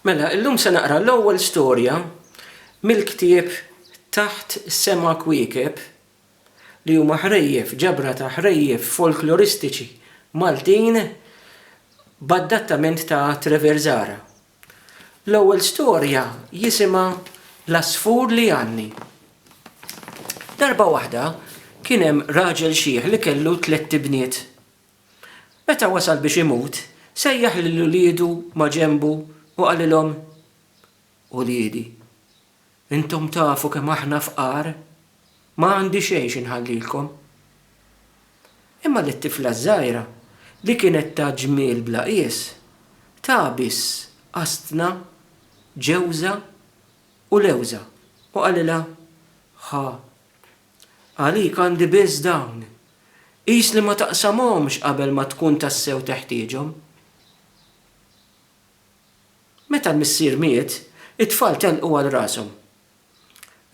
Mela, illum se naqra l-ewwel storja mill-ktieb Taħt Sema Kwiekeb, li huma ħrejjef, ġabra ta' ħrejjef folkloristiċi Maltin b'adattament ta' Trevor Zahra. L-ewwel storja jisimha L-Għasfur li Għanni. Darba waħda kien hemm raġel xiħ li kellu tlett ibniet Meta wasal biex imut, sejjaħ lil uliedu maġenbu u qalilhom, Uliedi, intom tafu kemm aħna fqar, ma għandi xejn xi nħallilkom. Imma lit-tifla ż-żgħira, li kienet ta' ġmiel bla qies, ta biss qastna ġewża u lewża u qalilha, Ħa, Għalik għandi biss dawn. Qis li ma taqsamhomx qabel ma tkun tassew teħtieġhom. Meta l-missier miet, it-tfal telqu għal rashom.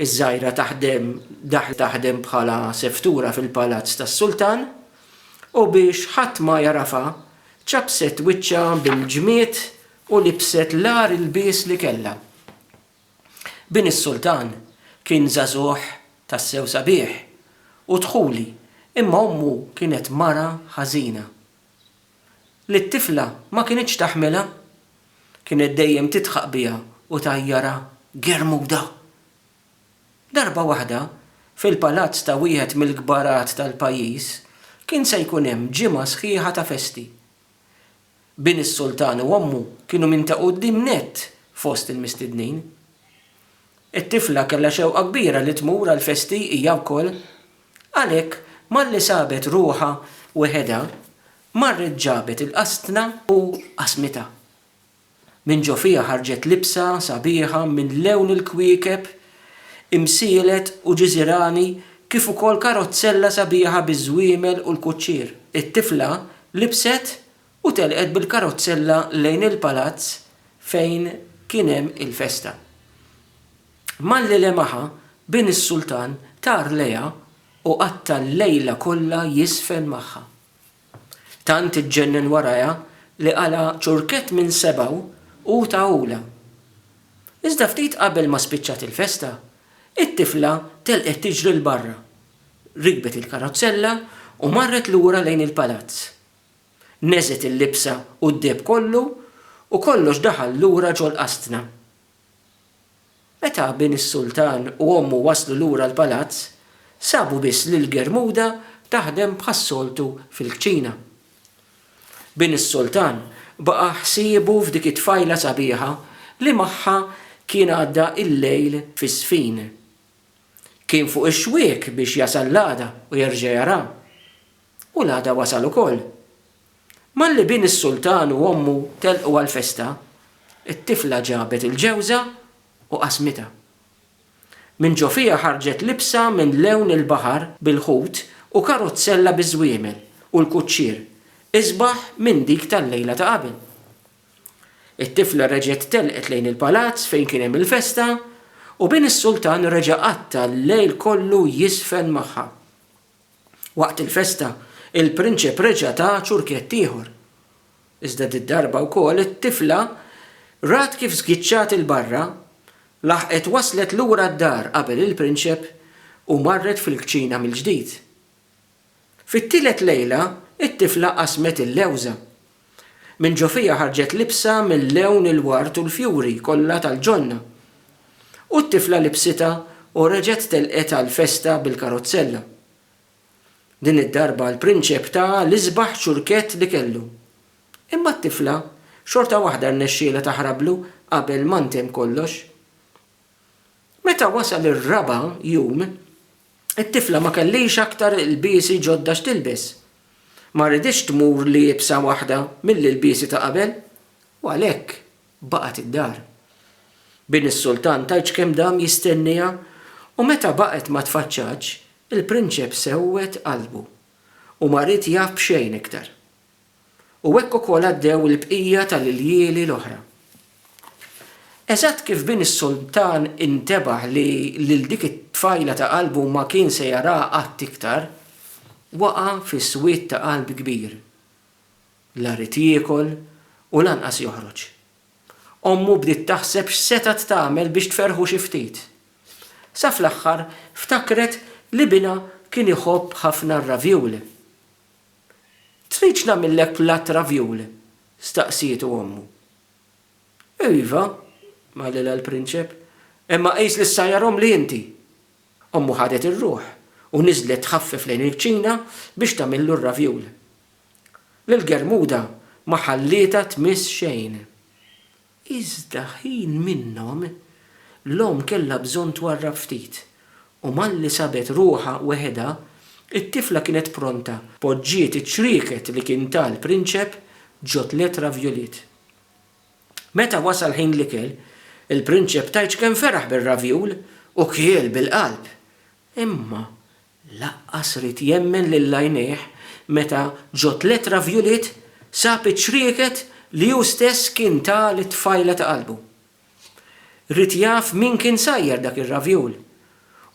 Iż-żgħira taħdem daħlet taħdem bħala seftura fil-palazz tas-sultan u biex ħadd ma jagħrafha, ċappset wiċċha bil-ġmied u libset l-agħar ilbies li kellha. Bin is-Sultan kien żagħżugħ tassew sabiħ u dħuli imma ommu kienet mara ħażina li t-tifla ma kinitx taħmilha. Kienet dejjem tidħaq biha u tgħajjarha germuda. Darba waħda, fil-palazz ta' wieħed mill-kbarat tal-pajjiż kien se jkun hemm ġimgħa sħiħa ta' festi. Bin is-Sultan u ommu kienu minn ta' quddiem nett fost il-mistednin. It-tifla kellha xewqa kbira li tmur għall-festi hija wkoll. Għalhekk, malli sabet ruħha weħedha, marret ġabet il-qasna u qasmitha. Minn ġo fiha ħarġet libsa sabiħa minn lewn il-kwiekeb imsielet u ġiżirani kif ukoll karozzella sabiħa biż-żwiemel u l-kuċċier. It-tifla libset u telqet bil-karozzella lejn il-palazz fejn kien hemm il-festa. Malli lemaha, bin is-sultan tar lejha u qatta' l-lejla kollha jiżfen magħha. Tant iġġennen warajha li qala' ċurkett minn sebgħu u tahulha. Iżda ftit qabel ma spiċċat il-festa, it-tifla telqet tiġri 'l barra, rikbet il-karozzella u marret lura lejn il-palazz. Neżgħet il-libsa u d-deheb kollu u kollox daħal lura ġol-qasdna. Meta bin is-sultan u ommu waslu lura l-palazz, sabu biss lil Germuda taħdem bħas-soltu fil-kċina. Bin is-sultan baqa' ħsiebu f'dik it-tfajla sabiħa li magħha kien għadda l-lejl fiż-żfin. Kien fuq ix-xwiek biex jasal l-għada u jerġa' jaraha. U l-għada wasal ukoll. Malli bin is-sultan u ommu telqu għall-festa, it-tifla ġabet il-ġewża u qasmitha. Minn ġo fiha ħarġet libsa minn lewn il-baħar bil-ħut u karuzzella biż-żwiemel u l-kuċċier, isbaħ minn dik tal-lejla ta' qabel. It-tifla reġgħet telqet lejn il-palazz fejn kien hemm il-festa u bin is-sultan reġa' qatta' l-lejl kollu jiżfen magħha. Waqt il-festa, il-prinċep reġa' ta ċurkett ieħor. Iżda did-darba wkoll it-tifla rat kif żgiċċat 'il barra, laħqet waslet lura d-dar qabel il-prinċep u marret fil-kċina mill-ġdid. Fit-tielet lejla, it-tifla qasmet il-lewża Minn ġo fija ħarġet libsa mil-lewn il-ward u l-fjuri kollha tal-ġonna. U t-tifla libsitha u reġgħet telqet għall-festa bil-karozzella. Din id-darba l-prinċep ta l-isbaħ ċurkett li kellu. Imma t-tifla xorta waħda rnexxielha taħrablu qabel ma ntemm kollox. Meta wasal ir-raba' jum, It-tifla ma kellhiex aktar ilbiesi ġodda x'tilbes. Ma riditx tmur liebsa waħda mill-ilbiesi ta' qabel u għalhekk baqgħet id-dar. Bin is-sultan tgħidx kemm dam jistennieha u meta baqgħet ma tfaċċatx, il-prinċep sewwed qalbu u ma ried jaf b'xejn iktar. U hekk ukoll għaddew il-bqija tal-iljieli l-oħra. Eżatt kif bin is-sultan intebaħ li lil dik it-tfajla ta' qalbu ma kien se jaraha qatt iktar, waqa' fi swied ta' qalb kbir. La ried jiekol u lanqas joħroġ. Ommu bdiet taħseb x'setgħet tagħmel biex tferrħu xi ftit. Sa fl-aħħar ftakret li binha kien iħobb ħafna r-ravioule. Tridx nagħmillek platt ravioule? staqsietu ommu. Iva, qalilha l-prinċep, imma qis li issa hija romli inti. Ommu ħadet ir-ruħ u niżlet tħaffef lejn il-kċina biex tagħmillu r-ravioule. Lil Germuda ma ħallietha tmiss xejn. Iżda ħin minnhom, l-omm kellha bżonn twarrab ftit, u malli sabet ruħha weħedha, it-tifla kienet pronta, poġġiet iċ-ċrieket li kien ta l-prinċep ġo tliet ravjuliet. Meta wasal ħin l-ikel, il-prinċep tajċken feraħ bir-ravjul u kiel bil-qalb. Imma Laqqas ried jemmen lil għajnejh meta ġo tliet ravjuliet sab iċ-ċrieket li hu stess kien ta lit-tfajla ta' qalbu. Ried jaf min kien sajjar dak ir-ravjul.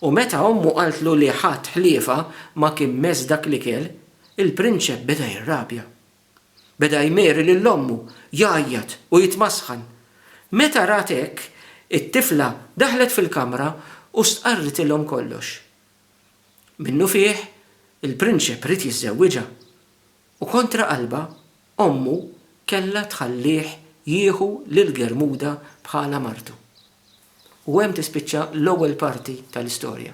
U meta ommu qaltlu li ħadd ħliefha ma kien mess dak l-ikel, il-prinċep beda jirrabja. Beda jmeri lil ommu, jgħajjat u jitmasħan. Meta rat hekk, it-tifla daħlet fil-kamra u stqarritilhom kollox. Minnufih, il-prinċep ried jiżżewwiġha, u kontra qalbha, ommu kellha tħallih jieħu lil Germuda bħala martu. U hemm tispiċċa l-ewwel parti tal-istorja.